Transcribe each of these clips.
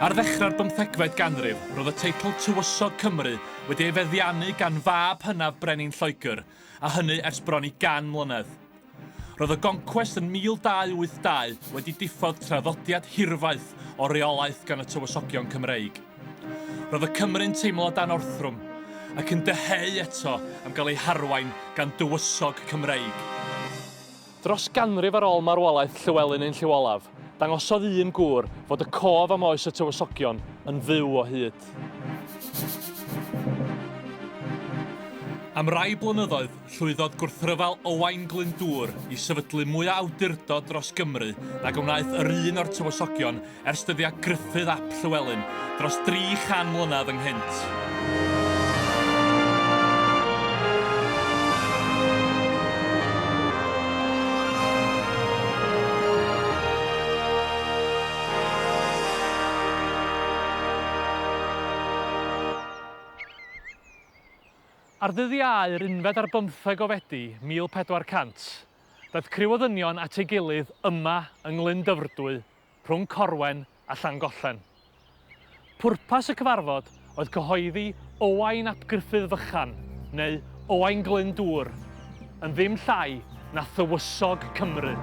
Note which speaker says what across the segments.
Speaker 1: Ar ddechrau'r bymthegfed ganrif, roedd y teitl Tywysog Cymru wedi ei feddiannu gan fab hynaf Brenin Lloegr, a hynny ers bron i 100 mlynedd. Roedd y Goncwest yn 1282 wedi diffodd traddodiad hirfaith o reolaeth gan y Tywysogion Cymreig. Roedd y Cymry'n teimlo dan orthrwm, ac yn dyheu eto am gael eu harwain gan dywysog Cymreig. Dros ganrif ar ôl marwolaeth Llywelyn ein Llyw Olaf, dangosodd un gŵr fod y cof am oes y Tywysogion yn fyw o hyd. Am rai blynyddoedd, llwyddodd gwrthryfel Owain Glyndŵr i sefydlu mwy o awdurdod dros Gymru nag a wnaeth yr un o'r Tywysogion Ers dyddiau Gruffudd ap Llywelyn, dros 300 mlynedd ynghynt. Ar ddyddiau yr unfed ar bymtheg o Fedi 1400, daeth criw o ddynion at ei gilydd yma yng Nglyn Dyfrdwy rhwng Corwen a Llangollen. Pwrpas y cyfarfod oedd cyhoeddi Owain ap Gruffudd Fychan, neu Owain Glyn Dŵr, yn ddim llai na Thywysog Cymru.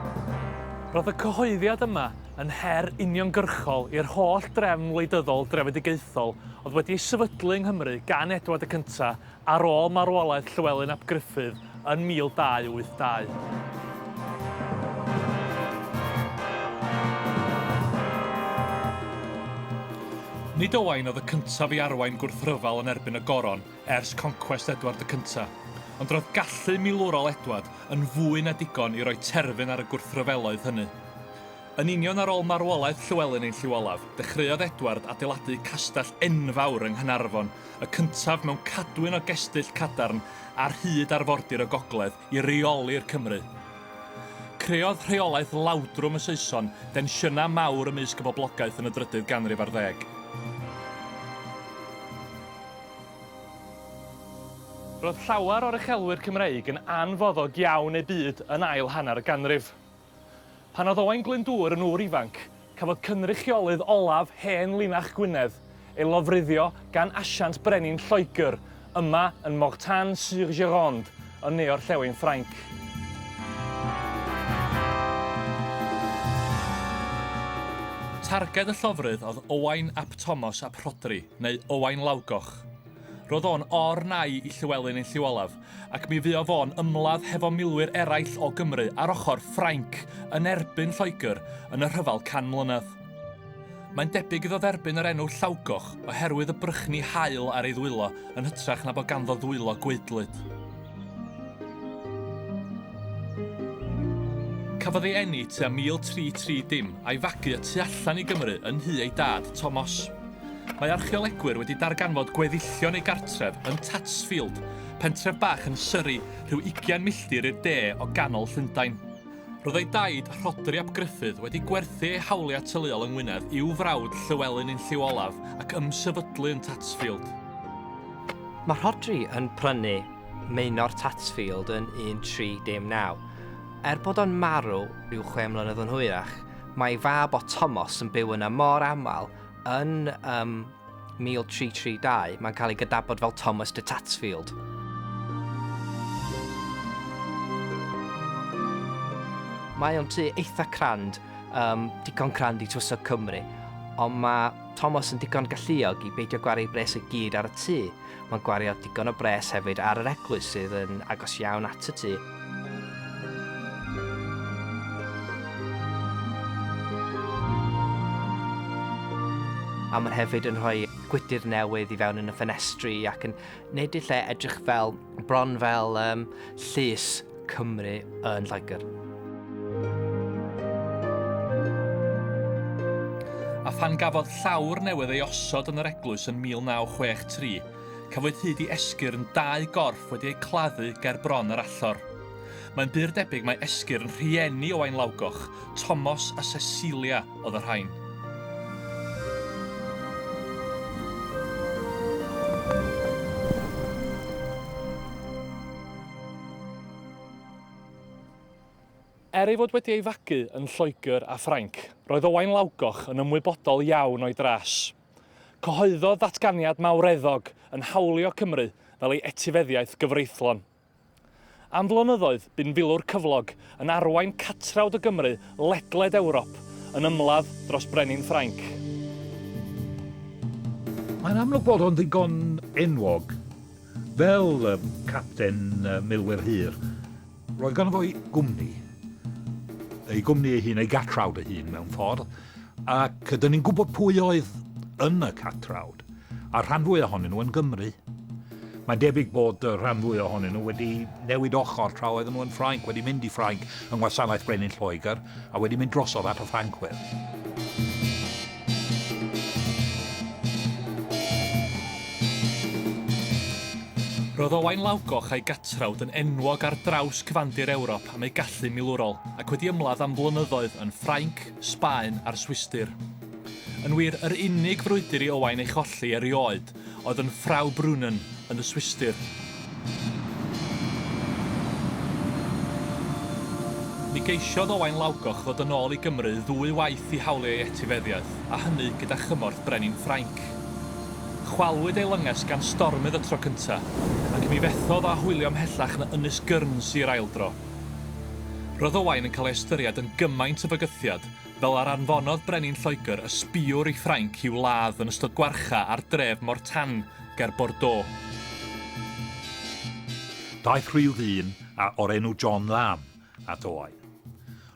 Speaker 1: Roedd y cyhoeddiad yma yn her uniongyrchol i'r holl drefn wleidyddol drefedigaethol oedd wedi ei sefydlu yng Nghymru gan Edward y Cyntaf ar ôl marwolaeth Llywelyn ap Gruffudd yn 1282. Nid Owain oedd y cyntaf i arwain gwrthryfel yn erbyn y Goron ers concwest Edward y Cyntaf, ond roedd gallu milwrol Edward yn fwy na digon i roi terfyn ar y gwrthryfeloedd hynny. Yn union ar ôl marwolaeth Llywelyn ein Llyw Olaf, dechreuodd Edward adeiladu castell enfawr yng Nghaernarfon, y cyntaf mewn cadwyn o gestyll cadarn ar hyd arfordir y gogledd, i reoli'r Cymry. Creodd rheolaeth lawdrwm y Saeson densiynau mawr ymysg y boblogaeth yn y drydydd ganrif ar ddeg. Roedd llawer o'r uchelwyr Cymreig yn anfoddog iawn eu byd yn ail hanner y ganrif. Pan oedd Owain Glyndŵr yn ŵr ifanc, cafodd cynrychiolydd olaf hen linach Gwynedd ei lofruddio gan asiant brenin Lloegr yma yn Mortain-sur-Gironde yn ne-orllewin Ffrainc. Targed y llofrudd oedd Owain ap Tomos ap Rhodri, neu Owain Lawgoch. Roedd o'n or nai i Llywelyn yn lliw olaf, ac mi fuo fo'n ymladd hefo milwyr eraill o Gymru ar ochr Ffrainc yn erbyn Lloegr yn y rhyfel can mlynedd. Mae'n debyg iddo dderbyn yr enw Llawgoch oherwydd y brychni haul ar ei ddwylo yn hytrach na bod ganddo ddwylo gwaedlyd. Cafodd ei eni tua 1330 a'i fagu y tu allan i Gymru yn nhu ei dad, Tomos. Mae archeolegwyr wedi darganfod gweddillion ei gartref yn Tatsfield, pentref bach yn Surrey, rhyw ugain milltir i'r de o ganol Llundain. Roedd ei daid, Rhodri ap Gruffudd, wedi gwerthu ei hawliau teuluol yng Ngwynedd i'w frawd Llywelyn yn lliw olaf ac ymsefydlu yn Tatsfield.
Speaker 2: Mae Rhodri yn prynu Maenor Tatsfield yn 1319. Er bod o'n marw ryw chwe mlynedd yn hwyrach, mae ei fab o Tomos yn byw yna mor aml Yn um, 1332, mae'n cael ei gydabod fel Thomas de Tatsfield. Mae o'n tu eitha crand, um, digon crand i twysog Cymru, ond mae Thomas yn digon galluog i beidio gwario bres y gyd ar y tu. Mae'n gwario digon o bres hefyd ar yr eglwys sydd yn agos iawn at y tŷ. A mae'n hefyd yn rhoi gwydr newydd i fewn yn y ffenestri ac yn neud y lle edrych fel bron fel um, llys Cymru yn Lloegr.
Speaker 1: A phan gafodd llawr newydd ei osod yn yr eglwys yn 1963, cafwyd hyd i esgyrn dau gorff wedi eu claddu ger bron yr allor. Mae'n bur debyg mae esgyrn rhieni Owain Lawgoch, Tomos a Cecilia oedd y rhain. Er ei fod wedi ei fagu yn Lloegr a Ffrainc, roedd Owain Lawgoch yn ymwybodol iawn o'i dras. Cyhoeddodd ddatganiad mawreddog yn hawlio Cymru fel ei etifeddiaeth gyfreithlon. Am flynyddoedd, bu'n filwr cyflog yn arwain catrawd o Gymry ledled Ewrop yn ymladd dros brenin Ffrainc.
Speaker 3: Mae'n amlwg bod o'n ddigon enwog. Fel capten milwyr hir, roedd ganddo fo'i gwmni, ei gwmni ei hun, ei gatrawd ei hun mewn ffordd, ac dyn ni'n gwybod pwy oedd yn y catrawd, a'r rhan fwy ohonyn nhw yn Gymru. Mae'n debyg bod y rhan fwy ohonyn nhw wedi newid ochr tra oedden nhw yn Ffrainc, wedi mynd i Ffrainc yng ngwasanaeth Brenin Lloegr a wedi mynd drosodd at y Ffrancwyr.
Speaker 1: Roedd Owain Lawgoch a'i gatrawd yn enwog ar draws cyfandir Ewrop am eu gallu milwrol, ac wedi ymladd am flynyddoedd yn Ffrainc, Sbaen a'r Swistir. Yn wir, yr unig frwydr i Owain ei cholli erioed oedd yn Frau Brunnen yn y Swistir. Mi geisiodd Owain Lawgoch ddod yn ôl i Gymru ddwy waith i hawlio ei etifeddiaeth, a hynny gyda chymorth brenin Ffrainc. Chwalwyd ei lynges gan stormydd y tro cynta, ac mi fethodd â hwylio mhellach na Ynys Guernsey yr ail dro. Roedd Owain yn cael ei ystyried yn gymaint o fygythiad Fel yr anfonodd Brenin Lloegr y sbiwr i Ffrainc i'w ladd yn ystod gwarcha ar dref Mortagne ger Bordeaux.
Speaker 3: Daeth rhyw ddyn a o'r enw John Lamb at oau.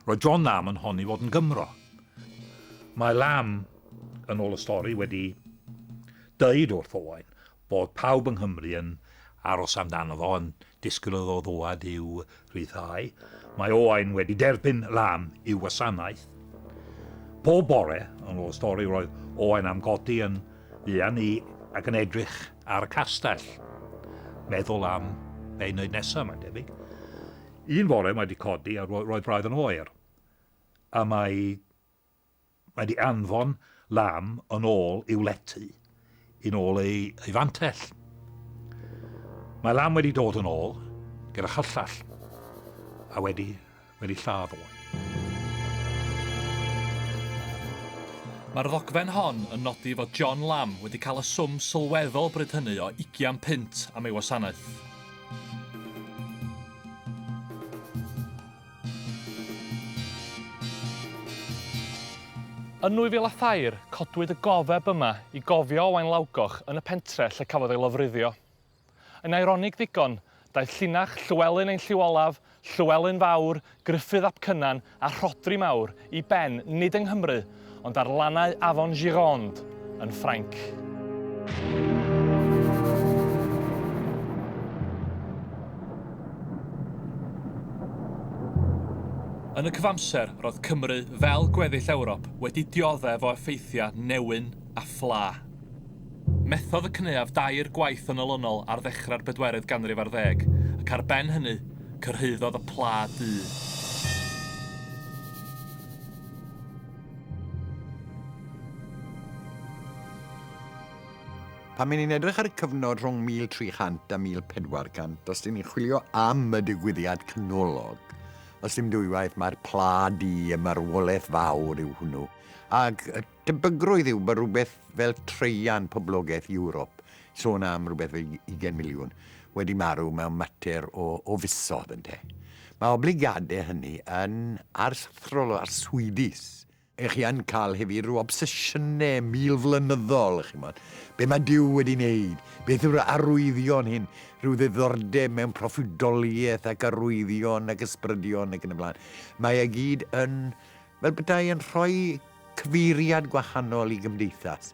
Speaker 3: Roedd John Lamb yn honni fod yn Gymro. Mae Lamb, yn ôl y stori, wedi deud wrth Owain Bod pawb yng Nghymru yn aros amdano fo, yn disgwyl iddo ddŵad i'w rhyddhau. Mae Owain wedi derbyn lam i'w wasanaeth. Pob bore, yn ôl y stori, roedd Owain am godi yn fuan i ac yn edrych ar y castell. Meddwl am be i wneud nesaf, mae'n debyg. Un fore mae wedi codi a roedd braidd yn oer. A mae Mae di anfon Lam yn ôl i'w lety, yn ôl ei ei fantell. Mae Lam wedi dod yn ôl gyda chyllell a wedi wedi lladd o.
Speaker 1: Mae'r ddogfen hon yn nodi fod John Lam wedi cael y swm sylweddol bryd hynny o ugian punt am ei wasanaeth. Yn 2003, codwyd y gofeb yma i gofio Owain Lawgoch yn y pentre lle cafodd ei lofruddio. Yn eironig ddigon, daeth llinach Llywelyn ein Llyw Olaf, Llywelyn Fawr, Gruffudd ap Cynan a Rhodri Mawr i ben nid yng Nghymru ond ar lannau afon Gironde yn Ffrainc. Yn y cyfamser, roedd Cymru, fel gweddill Ewrop, wedi dioddef o effeithiau newyn a ffla. Methodd y cynaeaf dair gwaith yn olynol ar ddechrau'r bedwerydd ganrif ar ddeg, ac ar ben hynny, cyrhaeddodd y pla du.
Speaker 4: Pan mae'n ni'n edrych ar y cyfnod rhwng 1300 a 1400, os dyn ni'n chwilio am y digwyddiad canolog, os dim dwywaith mae'r pla di y marwolaeth fawr yw hwnnw, ac y tebygrwydd yw bod rhywbeth fel treian poblogaeth Ewrop sôn am rhywbeth fel ugain miliwn wedi marw mewn mater o, o fisodd, ynte. Mae obligadau hynny yn aruthrol o arswydus. Ych chi yn cael hefyd rhyw obsesiynau milflynyddol, ych chimod. Be mae Duw wedi wneud? Beth yw'r arwyddion hyn? Rhyw ddiddordeb mewn proffwydoliaeth ac arwyddion ac ysbrydion ac yn y blaen. Mae e gyd yn, fel petai yn rhoi cyfeiriad gwahanol i gymdeithas.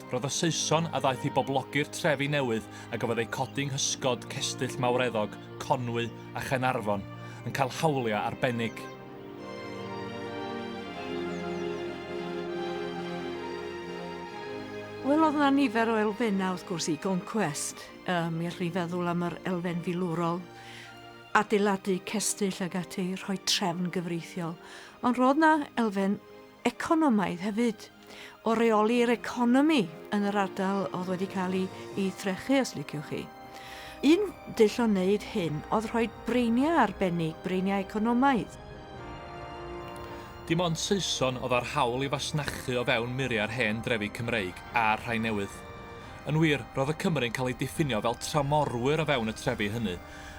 Speaker 1: Roedd y Saeson a ddaeth i boblogi'r trefi newydd a gafodd eu codi yng nghysgod cestyll mawreddog Conwy a Chaernarfon yn cael hawliau arbennig.
Speaker 5: Wel, oedd yna nifer o elfennau, wrth gwrs, i Goncwest. Um, mi allwn ni feddwl am yr elfen filwrol, adeiladu cestyll ag ati, rhoi trefn gyfreithiol. Ond roedd yna elfen economaidd hefyd. o reoli'r economi yn yr ardal oedd wedi cael ei, ei threchu, os liciwch chi. Un dull o wneud hyn oedd rhoi breiniau arbennig, breiniau economaidd.
Speaker 1: Dim ond Saeson oedd â'r hawl i fasnachu o fewn muriau'r hen drefi Cymreig a'r rhai newydd. Yn wir, roedd y Cymry'n cael eu diffinio fel tramorwyr o fewn y trefi hynny,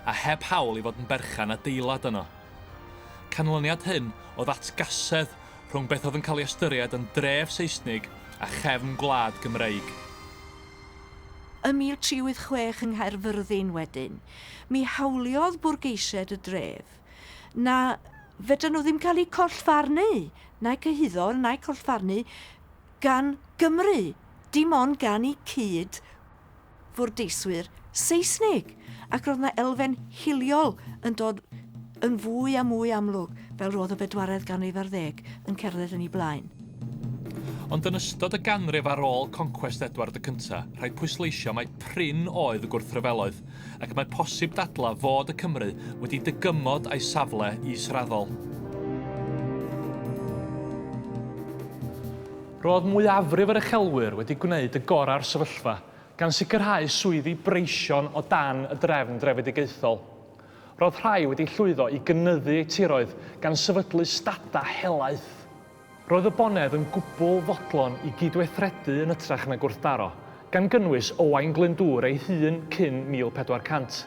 Speaker 1: a heb hawl i fod yn berchen adeilad yno. Canlyniad hyn oedd atgasedd rhwng beth oedd yn cael ei ystyried yn dref Seisnig a chefn gwlad Gymreig.
Speaker 5: Ym 1386 yng Nghaerfyrddin wedyn, mi hawliodd bwrgeisiaid y dref na fedran nhw ddim cael eu collfarnu, na'u cyhuddo na'u collfarnu gan Gymru, dim ond gan eu cyd fwrdeiswyr Seisnig, ac roedd yna elfen hiliol yn dod yn fwy a mwy amlwg fel roedd y bedwaredd ganrif ar ddeg yn cerdded yn ei blaen.
Speaker 1: Ond yn ystod y ganrif ar ôl concwest Edward y Cyntaf, rhaid pwysleisio mai prin oedd y gwrthryfeloedd, ac mae posib dadlau fod y Cymry wedi dygymod â'i safle israddol. Roedd mwyafrif yr uchelwyr wedi gwneud y gorau o'r sefyllfa, gan sicrhau swyddi breision o dan y drefn drefedigaethol. Roedd rhai wedi llwyddo i gynyddu eu tiroedd gan sefydlu stadau helaeth. Roedd y bonedd yn gwbl fodlon i gydweithredu yn ytrach na gwrthdaro, gan gynnwys Owain Glyndŵr ei hun cyn 1400.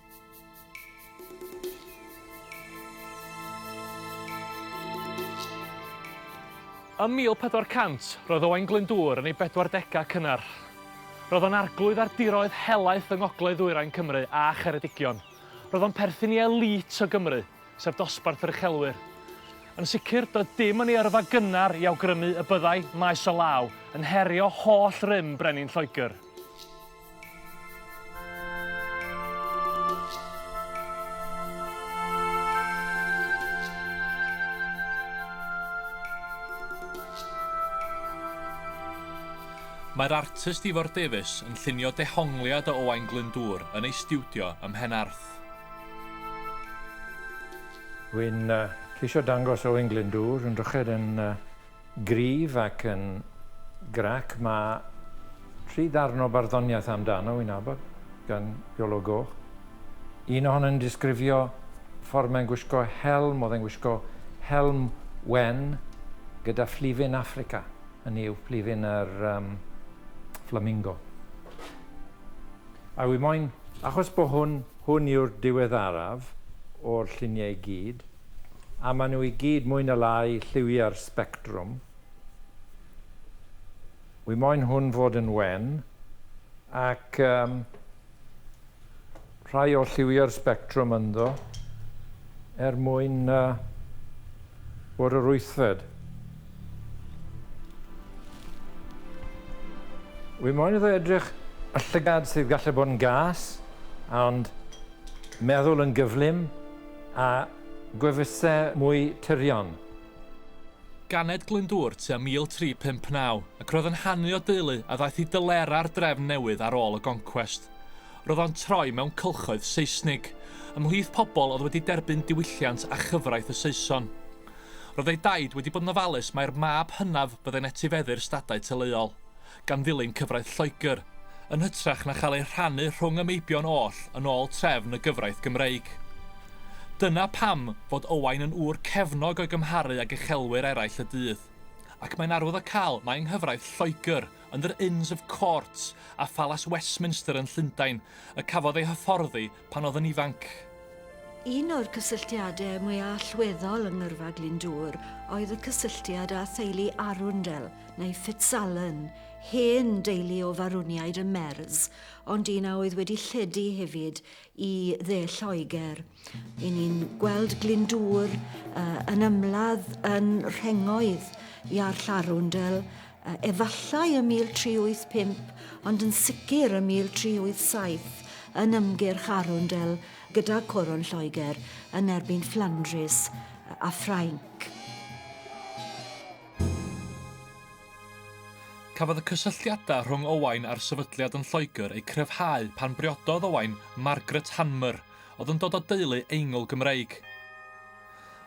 Speaker 1: Ym 1400, roedd Owain Glyndŵr yn ei bedwardegau cynnar. Roedd o'n arglwydd ar diroedd helaeth yng ngogledd-ddwyrain Cymru a Cheredigion. Roedd o'n perthyn i elît o Gymru, sef dosbarth yr uchelwyr. Yn sicr, doedd dim yn ei yrfa gynnar i awgrymu y byddai maes o law yn herio holl rym brenin Lloegr. Mae'r artist Ifor Davies yn llunio dehongliad o Owain Glyndŵr yn ei stiwdio ym Mhenarth.
Speaker 6: Wy'n ceisio dangos Owain Glyndŵr yn dryched yn Gryf ac yn grac, mae tri darn o barddoniaeth amdano i'n nabod gan Iolo Goch. Un ohonyn yn disgrifio ffordd mae'n gwisgo helm, oedd e'n gwisgo helm wen gyda phlifyn Affrica, hynny yw plifyn yr um, flamingo. A wi moyn, achos bod hwn, hwn yw'r diweddaraf o'r lluniau i gyd, a maen nhw i gyd mwy na lai lliwiau'r sbectrwm, wi moyn hwn fod yn wen, ac um, rhai o lliwiau'r sbectrwm ynddo er mwyn uh, bod yr wythfed. Wi moyn iddo edrych y llygad sydd gallu bod yn gas, ond meddwl yn gyflym, A gwefusau mwy tyrion.
Speaker 1: Ganed Glyndŵr tua 1359, ac roedd yn hanu o deulu a ddaeth i dylera'r drefn newydd ar ôl y goncwest. Roedd o'n troi mewn cylchoedd Seisnig, ymhlith pobl oedd wedi derbyn diwylliant a chyfraith y Saeson. Roedd ei daid wedi bod yn ofalus mai'r mab hynaf fyddai'n etifeddu'r stadau teuluol. gan ddilyn cyfraith Lloegr, yn hytrach na chael eu rhannu rhwng y meibion oll yn ôl trefn y gyfraith Gymreig. Dyna pam fod Owain yn ŵr cefnog o'i gymharu ag uchelwyr eraill y dydd. Ac mae'n arwyddocaol mai yng nghyfraith Lloegr, yn yr Inns of Court a Phalas Westminster yn Llundain, y cafodd ei hyfforddi pan oedd yn ifanc. Un
Speaker 5: o'r cysylltiadau mwyaf allweddol yng Ngyrfa Glyndŵr oedd y cysylltiad â theulu Arundel, neu Fitzalan, hen deulu o Farwniaid y Merz, ond un a oedd wedi lledu hefyd i Dde Lloegr. Yn ni'n gweld Glyndŵr uh, yn ymladd yn rhengoedd Iarll Arundel, efallai ym 1385, ond yn sicr ym 1387, yn ymgyrch Arundel gyda Coron Lloegr yn erbyn Fflandrys a Ffrainc.
Speaker 1: Cafodd y cysylltiadau rhwng Owain a'r sefydliad yn Lloegr eu cryfhau pan briododd Owain Margaret Hanmer, oedd yn dod o deulu Eingl-Gymreig.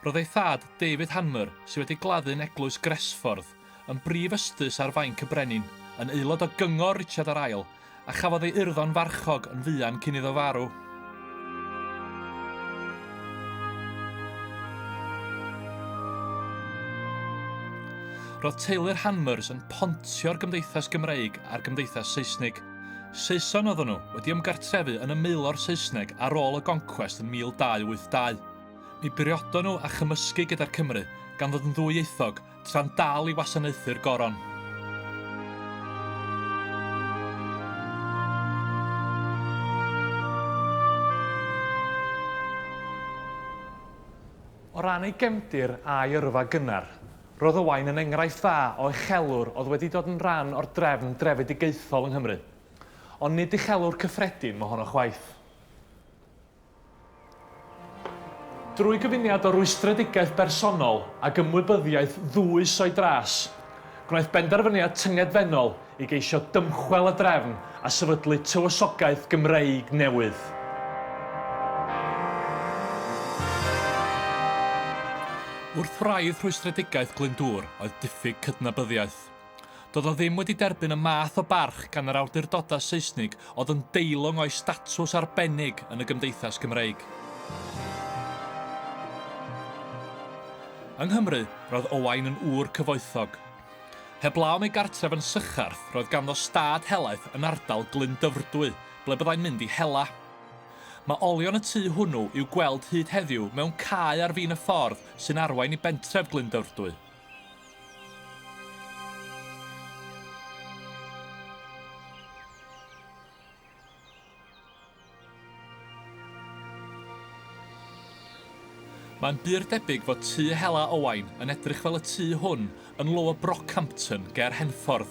Speaker 1: Roedd ei thad, David Hanmer, sydd wedi gladdu'n Eglwys Gresffordd, yn brif ystus ar fainc y brenin, yn aelod o gyngor Richard yr Ail, a chafodd ei urddo'n farchog yn fuan cyn iddo farw. Roedd teulu'r Hanmers yn pontio'r Gymdeithas Gymreig a'r Gymdeithas Saesnig. Saeson oedden nhw, wedi ymgartrefu yn y maelor Saesneg ar ôl y goncwest yn 1282. Mi briodon nhw a chymysgu gyda'r Cymry, gan ddod yn ddwyieithog, tra'n dal i wasanaethu'r Goron. O ran ei gefndir a'i yrfa gynnar, roedd Owain yn enghraifft dda o uchelwr oedd wedi dod yn rhan o'r drefn drefedigaethol yng Nghymru. Ond nid uchelwr cyffredin mohono chwaith. Drwy gyfuniad o rwystredigaeth bersonol ag ymwybyddiaeth ddwys o'i dras, gwnaeth benderfyniad tyngedfennol i geisio dymchwel y drefn a sefydlu tywysogaeth Gymreig newydd. Wrth wraidd rhwystredigaeth Glyndŵr oedd diffyg cydnabyddiaeth. Doedd o ddim wedi derbyn y math o barch gan yr awdurdodau Seisnig oedd yn deilwng o'i statws arbennig yn y gymdeithas Gymreig. Yng Nghymru, roedd Owain yn ŵr cyfoethog. Heblaw am ei gartref yn Sycharth, roedd ganddo stad helaeth yn ardal Glyn Dyfrdwy, ble byddai'n mynd i hela. Mae olion y tŷ hwnnw i'w gweld hyd heddiw mewn cae ar fin y ffordd sy'n arwain i bentref Glyn Dyfrdwy. Mae'n bur debyg fod tŷ Hela Owain yn edrych fel y tŷ hwn yn Lower Brockhampton ger Henffordd.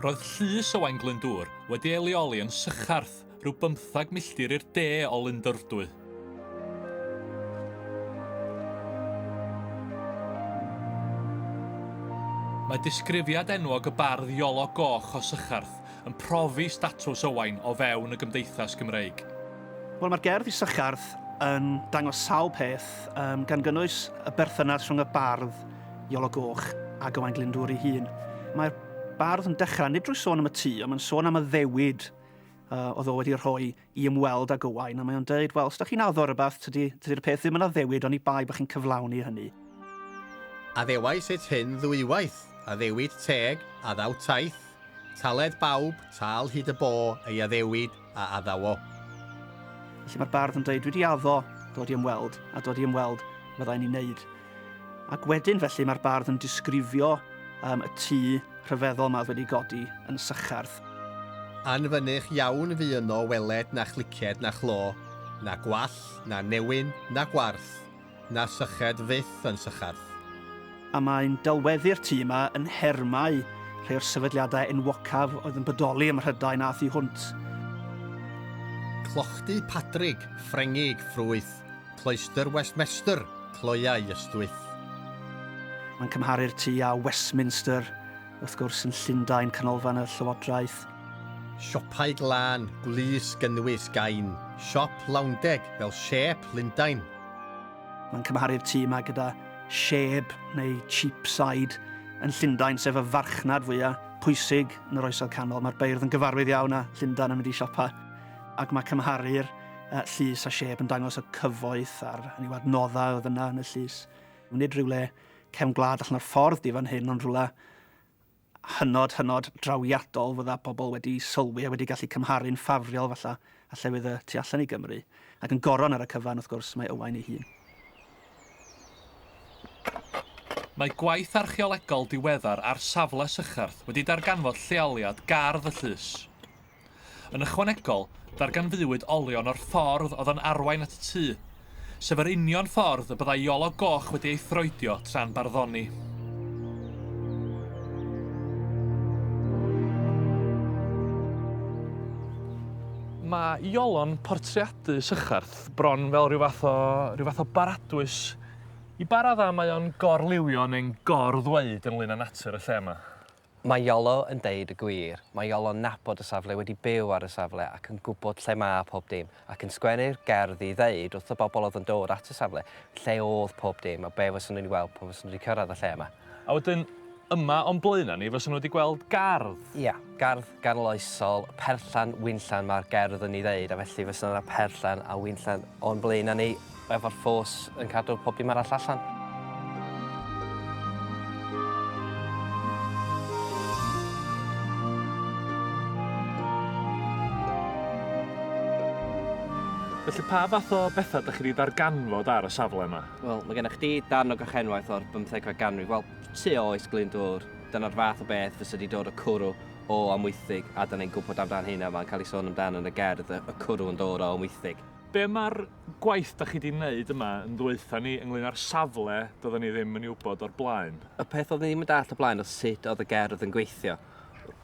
Speaker 1: Roedd llys Owain Glyndŵr wedi ei leoli yn Sycharth, rhyw bymthag milltir i'r de o Lundyrdwy. Mae disgrifiad enwog y bardd Iolo Goch o Sycharth yn profi statws Owain o fewn y gymdeithas Gymreig. Wel, mae'r gerdd
Speaker 7: i Sycharth yn dangos sawl peth, um, gan gynnwys y berthynas rhwng y bardd Iolo Goch a Gywain Glyndŵr ei hun. Mae'r bardd yn dechrau nid drwy sôn am y tŷ, ond mae'n sôn am y ddewyd uh, oedd o wedi rhoi i ymweld ag Owain, a mae'n dweud, wel, os da chi'n addo rhywbeth, tydi'r tydi peth ddim yn addewid, ond i bai bod chi'n cyflawni hynny.
Speaker 8: Addewais et hyn ddwywaith, addewid teg, addaw taith, taled bawb, tal hyd y bo, ei addewid, a addaw o.
Speaker 7: Felly mae'r bardd yn dweud, dwi wedi addo dod i ymweld, a dod i ymweld fyddai'n ei wneud. Ac wedyn felly mae'r bardd yn disgrifio um, y tŷ rhyfeddol mae wedi godi yn sychardd. Anfynych
Speaker 8: iawn fu yno weled na chliced na chlo, na gwall, na newyn, na gwarth, Na syched fyth yn sycharth. A mae'n
Speaker 7: delweddu'r tŷ yma yn nhermau rhai o'r sefydliadau enwocaf oedd yn bodoli ym Mhrydain a thu hwnt.
Speaker 8: Clochdy Padrig, Ffrengig, ffrwyth, Cloister Westmester, cloiau ystwyth.
Speaker 7: Mae'n cymharu'r tŷ â Westminster, wrth gwrs, yn Llundain, canolfan y llywodraeth. Siopau
Speaker 8: glân, gwlys, gynnwys, gain, siop, lawndeg, fel siêp, Lundain. Mae'n
Speaker 7: cymharu'r tŷ yma gyda sheb neu cheapside yn Llundain, sef y farchnad fwyaf pwysig yn yr Oesoedd Canol. Mae'r beirdd yn gyfarwydd iawn â Llundain yn mynd i siopa, ac mae cymharu'r uh, llys a sheb yn dangos y cyfoeth a'r hynny adnoddau oedd yna yn y llys. Nid rhywle cefn gwlad allan o'r ffordd di fan hyn, ond rhywle hynod, hynod drawiadol, fydda pobl wedi sylwi a wedi gallu cymharu'n ffafriol falla a llefydd y tu allan i Gymru, ac yn goron ar y cyfan, wrth gwrs, mae Owain ei hun.
Speaker 1: Mae gwaith archeolegol diweddar ar safle Sycharth wedi darganfod lleoliad gardd y llys. Yn ychwanegol, darganfuwyd olion o'r ffordd oedd yn arwain at y tŷ, sef yr union ffordd y byddai Iolo Goch wedi ei throedio tra'n barddoni. Mae Iolo'n portreadu Sycharth bron fel rhyw fath o, rhyw fath o baradwys i ba raddau mae o'n gorliwio neu'n gor-ddweud ynglyn â natur y lle yma. Mae Iolo
Speaker 2: yn deud y gwir. Mae Iolo'n nabod y safle, wedi byw ar y safle ac yn gwybod lle ma' pob dim, ac yn sgwennu'r gerdd i ddeud wrth y bobl oedd yn dod at y safle lle oedd pob dim a be' fyswn nhw'n ei weld pan fyswn nhw wedi cyrraedd y lle yma. A wedyn,
Speaker 1: yma o'n blaen â ni, fyswn nhw wedi gweld gardd. Ia, gardd
Speaker 2: ganoloesol, perllan, winllan, ma'r gerdd yn ei ddeud, a felly fysa 'na perllan a winllan o'n blaen â ni. Efo'r ffos yn cadw pob dim arall allan.
Speaker 1: Felly pa fath o bethau ydych chi wedi darganfod ar y safle yma? Wel, mae gennych chdi
Speaker 2: darn o gachenwaith o'r bymthegfed ganrif, wel, tu ôl Oes Glyndŵr. Dyna'r fath o beth fysa wedi dod o cwrw o Amwythig, a 'da ni'n gwybod amdan hynna, mae'n cael ei sôn amdan yn y gerdd, y cwrw yn dod o Amwythig. Be mae'r
Speaker 1: gwaith da chi 'di neud yma yn ddwytha ni ynglyn â'r safle doedden ni ddim yn ei wybod o'r blaen. Y peth oeddwn i ddim yn dallt
Speaker 2: o'r blaen oedd sut oedd y gerdd yn gweithio.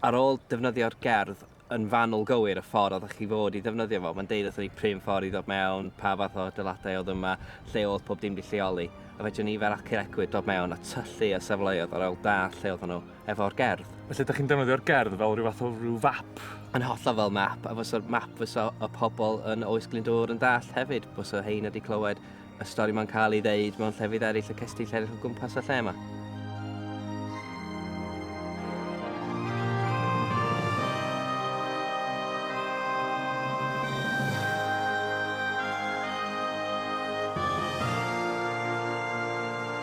Speaker 2: Ar ôl defnyddio'r gerdd yn fanwl gywir, y ffordd oeddech chi fod i ddefnyddio fo, mae'n deud wrthon ni p'un ffordd i ddod mewn, pa fath o adeiladau oedd yma, lle oedd pob dim 'di lleoli, a fedrwn ni fel acadegwyr dod mewn a tyllu ar safleoedd ar ôl dallt lle oedden nhw. efo'r gerdd. Felly ydych chi'n defnyddio'r
Speaker 1: gerdd fel rhyw fath o rhyw fap? Yn hollol fel
Speaker 2: map, a fysa'r map fysa y pobl yn Oes Glyndŵr yn dall hefyd, fysa hein wedi clywed y stori mae'n cael ei ddeud mewn llefydd eraill y cestyll eraill o gwmpas y lle yma.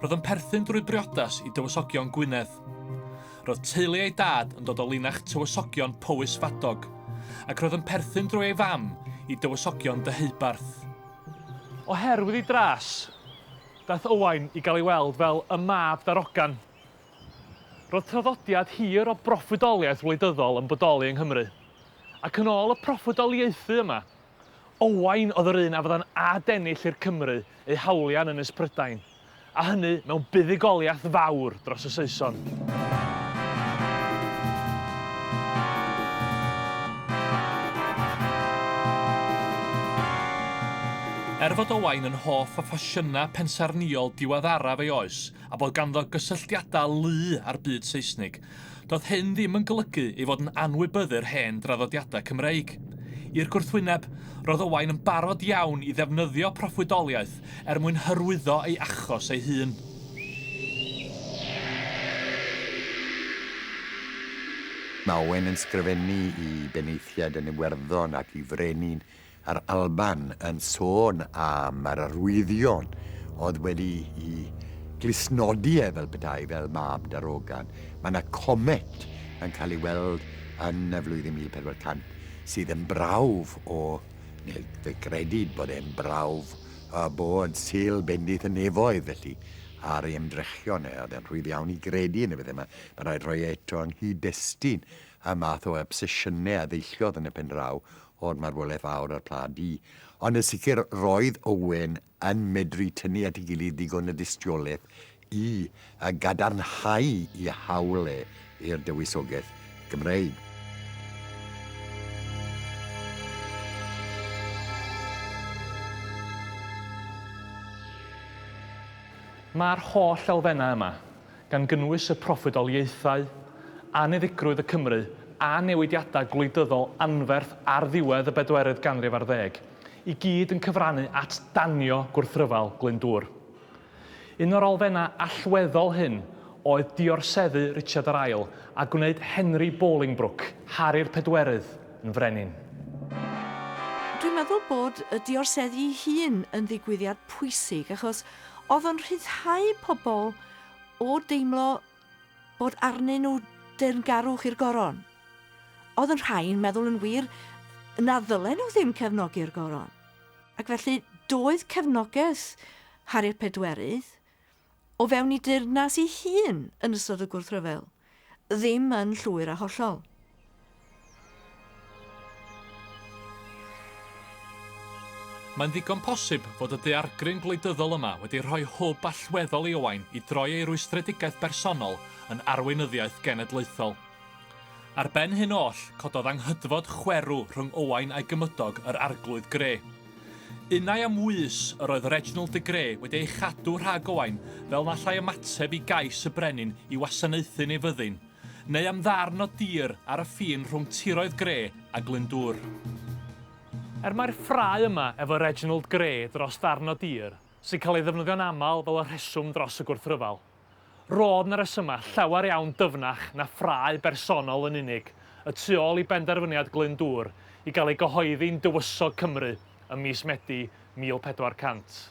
Speaker 1: Roedd yn perthyn drwy briodas i Dywysogion Gwynedd. Roedd teulu ei dad yn dod o linach Tywysogion Powys Fadog, ac roedd yn perthyn drwy ei fam i Dywysogion Deheubarth. Oherwydd ei dras, daeth Owain i gael ei weld fel y mab darogan. Roedd traddodiad hir o broffwydoliaeth wleidyddol yn bodoli yng Nghymru, ac yn ôl y proffwydoliaethu yma, Owain oedd yr un a fydda'n adennill i'r Cymry eu hawliau yn Ynys Prydain, a hynny mewn buddugoliaeth fawr dros y Saeson. Er fod Owain yn hoff o ffasiynau pensaernïol diweddaraf ei oes, a bod ganddo gysylltiadau lu â'r byd Seisnig, Doedd hyn ddim yn golygu ei fod yn anwybyddu'r hen draddodiadau Cymreig. I'r gwrthwyneb, roedd Owain yn barod iawn i ddefnyddio proffwydoliaeth er mwyn hyrwyddo ei achos ei hun.
Speaker 4: Mae Owain yn sgrifennu i benaethiaid yn Iwerddon ac i frenin Yr Alban yn sôn am yr arwyddion oedd wedi'i glustnodi e fel petai fel mab darogan. Mae yna comet yn cael ei weld yn y flwyddyn 1400 sydd yn brawf o, neu fe gredid bod e'n brawf o bod Sul bendith y nefoedd, felly ar ei ymdrechion e, oedd e'n rhwydd iawn i gredu yn y bethau yma. Mae'n rhaid rhoi e eto yng nghyd-destun y math o obsesiynau a ddeilliodd yn y pen draw o'r marwolaeth fawr a'r Pla Du, ond yn sicr roedd Owen yn medru tynnu at ei gilydd ddigon o dystiolaeth i gadarnhau i hawl e i'r dywysogaeth Gymreig.
Speaker 1: Mae'r holl elfennau yma, gan gynnwys y proffwydoliaethau, anniddigrwydd y Cymry a newidiadau gwleidyddol anferth ar ddiwedd y bedwerydd ganrif ar ddeg, i gyd yn cyfrannu at danio gwrthryfel Glyndŵr. Un o'r elfennau allweddol hyn oedd diorseddu Richard yr Ail a gwneud Henry Bolingbroke, Harri'r Pedwerydd, yn frenin.
Speaker 5: Dwi'n meddwl bod y diorseddu'i hun yn ddigwyddiad pwysig achos oedd o'n rhyddhau pobl o deimlo bod arnyn nhw deyrngarwch i'r goron. Oedd yn rhai'n meddwl yn wir na ddylen nhw ddim cefnogi'r goron. Ac felly doedd cefnogaeth Harriet Pedwerydd o fewn i deyrnas ei hun yn ystod y gwrthryfel. Ddim yn llwyr a hollol.
Speaker 1: Mae'n ddigon posib fod y daeargryn gwleidyddol yma wedi rhoi hwb allweddol i Owain i droi ei rwystredigaeth bersonol yn arweinyddiaeth genedlaethol. Ar ben hyn oll, cododd anghydfod chwerw rhwng Owain a'i gymydog, yr Arglwydd Gre. Unai am wys yr oedd Reginald de Grê wedi ei chadw rhag Owain fel na allai ymateb i gais y brenin i wasanaethu'n ei fyddin, neu am ddarn o dir ar y ffin rhwng tiroedd Grê a Glyndŵr. Er mai'r ffrae yma efo Reginald Grê dros ddarn o dir, sy'n cael ei ddefnyddio'n aml fel y rheswm dros y gwrthryfel, Roedd 'na resymau llawer iawn dyfnach na ffrae bersonol yn unig y tu ôl i benderfyniad Glyndŵr i gael ei gyhoeddi'n Dywysog Cymru ym mis Medi 1400.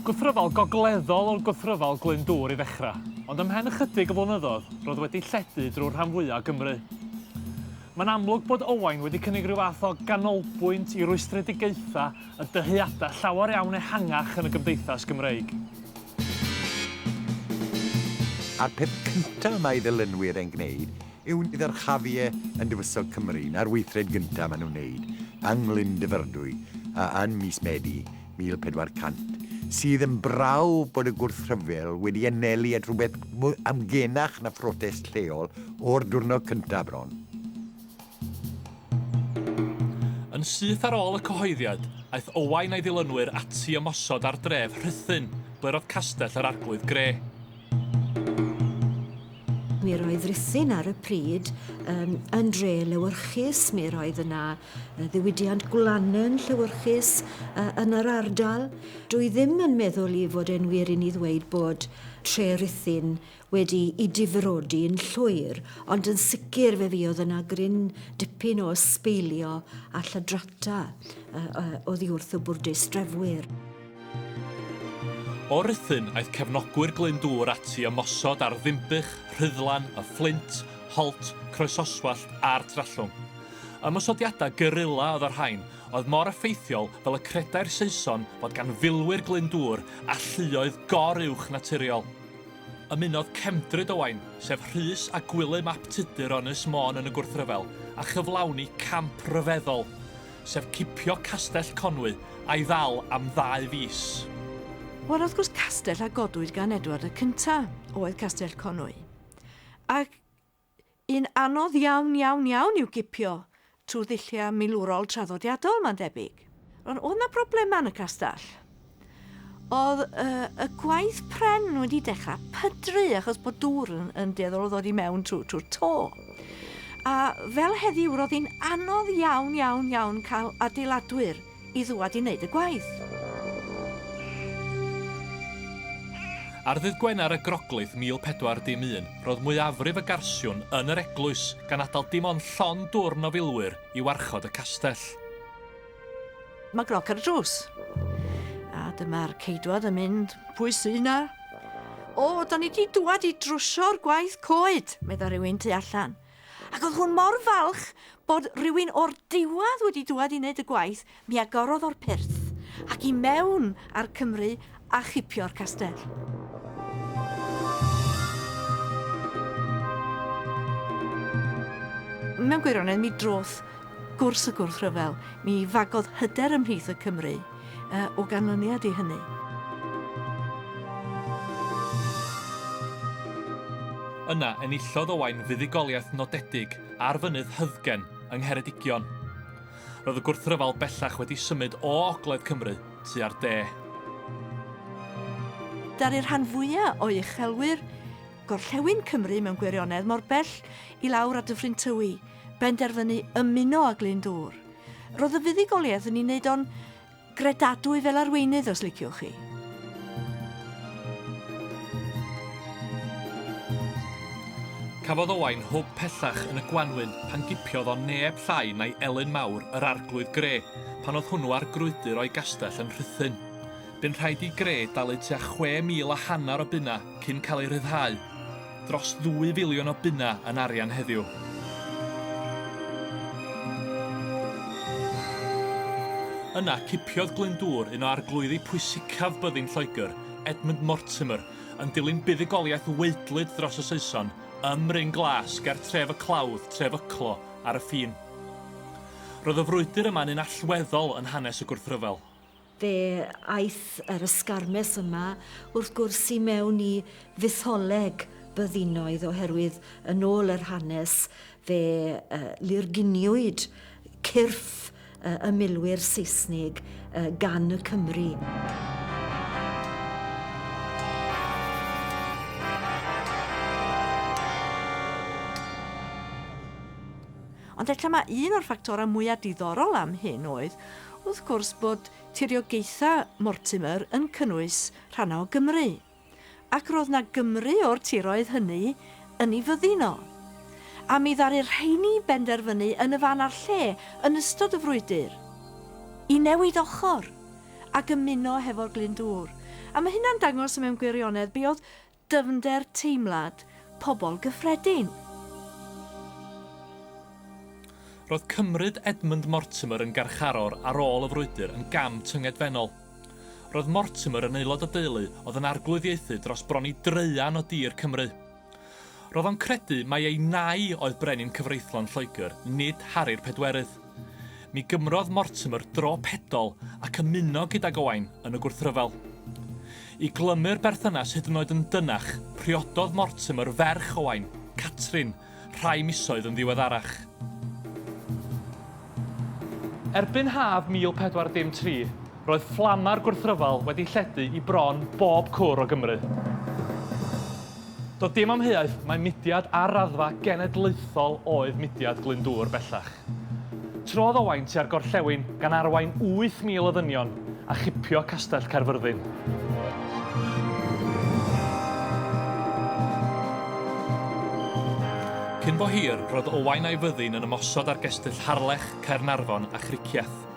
Speaker 1: Gwrthryfel gogleddol oedd Gwrthryfel Glyndŵr i ddechrau, ond ymhen ychydig o flynyddoedd roedd wedi lledu drwy'r rhan fwyaf o Gymru. Mae'n amlwg bod Owain wedi cynnig rhyw fath o ganolbwynt i rwystredigaethau a dyheadau llawer iawn ehangach yn y gymdeithas Gymreig.
Speaker 4: A'r peth cyntaf mae ei ddilynwyr yn gwneud yw niddarchafu e yn Dywysog Cymru na'r weithred gyntaf maen nhw'n wneud yng Nglyn Dyfrdwy y yn mis Medi 1400, sydd yn brawf bod y gwrthryfel wedi anelu at rhywbeth mwy amgenach na phrotest lleol o'r diwrnod cyntaf bron.
Speaker 1: Yn syth ar ôl y cyhoeddiad, aeth Owain a'i ddilynwyr ati ymosod ar dref Rhuthun, ble roedd Castell yr Arglwydd Grey.
Speaker 9: Mi roedd Rhuthun ar y pryd um, yn dre lewyrchus, mi roedd yna ddiwydiant gwlanen llewyrchus uh, yn yr ardal. Dwi ddim yn meddwl i fod e'n wir i ni ddweud bod tre Rhuthun wedi i difrodi yn llwyr, ond yn sicr fe fi oedd yna gryn dipyn o ysbeilio a llydrata uh, uh, oddi wrth y bwrdeistrefwyr.
Speaker 1: O Ruthun aeth cefnogwyr Glyndŵr ati ymosod ar Ddinbych, Rhuddlan, Y Fflint, Holt, Croesoswallt a'r Trallwng. Ymosodiadau guerilla oedd y rhain, oedd mor effeithiol fel y credai'r Saeson fod gan filwyr Glyndŵr alluoedd gor-uwch naturiol. Ymunodd Cefndryd Owain, sef Rhys a Gwilym ap Tudur o Ynys Môn yn y gwrthryfel, a chyflawni camp ryfeddol. sef cipio Castell Conwy a'i ddal am ddau fis. Wel,
Speaker 5: wrth gwrs, castell a godwyd gan Edward y Cynta oedd Castell Conwy. Ac un anodd iawn, iawn, iawn i'w gipio trwy ddulliau milwrol traddodiadol, mae'n debyg. Ond oedd 'na broblemau yn y castell? oedd uh, y gwaith pren wedi dechrau pydru achos bod dŵr yn, yn dueddol o ddod i mewn trwy'r trwy to. A fel heddiw, roedd hi'n anodd iawn, iawn, iawn cael adeiladwyr i ddwad i wneud y gwaith.
Speaker 1: Ar ddydd Gwener y Groglith 1411, roedd mwyafrif y garsiwn yn yr eglwys, gan adael dim ond llon dwrn o filwyr i warchod y castell.
Speaker 5: Mae groc ar y drws. A dyma'r ceidwad yn mynd, pwy sy' 'na? O, da ni 'di dŵad i drwsio'r gwaith coed, medda rhywun tu allan. Ac oedd hwn mor falch bod rhywun o'r diwadd wedi dŵad i wneud y gwaith, mi agorodd o'r pyrth ac i mewn a'r Cymry a chipio'r castell. Mewn gwirionedd, mi droth gwrs y gwrthryfel, mi fagodd hyder ymhlith y Cymry o ganlyniad i hynny.
Speaker 1: Yna, enillodd Owain fuddugoliaeth nodedig ar fynydd Hyddgen yng Ngheredigion. Roedd y gwrthryfel bellach wedi symud o ogledd Cymru tua'r de. Ddaru'r
Speaker 5: rhan fwya' o'i uchelwyr, gorllewin Cymru mewn gwirionedd, mor bell i lawr a Dyffryn Tywi, benderfynu ymuno â Glyndŵr. Ro'dd y fuddugoliaeth yn 'i neud o'n gredadwy fel arweinydd os liciwch chi.
Speaker 1: Cafodd Owain hwb pellach yn y gwanwyn pan gipiodd o neb llai na'i Elin Mawr, yr Arglwydd Gre. pan oedd hwnnw ar grwydr o'i gastell yn Rhuthun. Bu'n rhaid i Gre dalu tua chwe mil a hanner o bunnau cyn cael ei rhyddhau. Dros ddwy filiwn o bunnau yn arian heddiw. Yna, cipiodd Glyndŵr un o arglwyddi pwysicaf byddin Lloegr, Edmund Mortimer, yn dilyn buddugoliaeth waedlyd dros y Saeson ym Mryn Glas ger tref y Clawdd, tref Yclo, ar y ffin. Roedd y frwydr yma'n un allweddol yn hanes y gwrthryfel. Fe
Speaker 9: aeth yr ysgarmes yma wrth gwrs i mewn i fytholeg byddinoedd oherwydd yn ôl yr hanes fe lurguniwyd cyrff y milwyr Seisnig gan y Cymry.
Speaker 5: Ond ella mai un o'r ffactorau mwyaf diddorol am hyn oedd, wrth gwrs, bod tiriogaethau Mortimer yn cynnwys rhannau o Gymru, ac roedd 'na Gymry o'r tiroedd hynny yn ei fyddin o. A mi ddaru'r rheini benderfynu yn y fan a'r lle, yn ystod y frwydr, i newid ochr ac ymuno hefo'r Glyndŵr. A mae hynna'n dangos, mewn gwirionedd, be oedd Dyfnder teimlad pobl gyffredin.
Speaker 1: Roedd cymryd Edmund Mortimer yn garcharor ar ôl y frwydr yn gam tyngedfennol. Roedd Mortimer yn aelod o deulu oedd yn arglwyddiaethu dros bron i draean o dir Cymru. Roedd o'n credu mai ei nai oedd brenin cyfreithlon Lloegr, nid Hari'r Pedwerydd. Mi gymrodd Mortimer dro pedol ac ymuno gydag Owain yn y gwrthryfel. I glymu'r berthynas hyd yn oed yn dynach, priododd Mortimer ferch Owain, Catrin, rhai misoedd yn ddiweddarach. Erbyn haf 1403, Roedd fflamau'r gwrthryfel wedi lledu i bron bob cwr o Gymru. Doedd dim amheuaeth mai mudiad ar raddfa genedlaethol oedd mudiad Glyndŵr bellach. Trodd Owain tua'r gorllewin gan arwain 8,000 o ddynion a chipio Castell Caerfyrddin. Cyn bo hir, roedd Owain a'i fyddin yn ymosod ar gestyll Harlech, Caernarfon a Chricieth.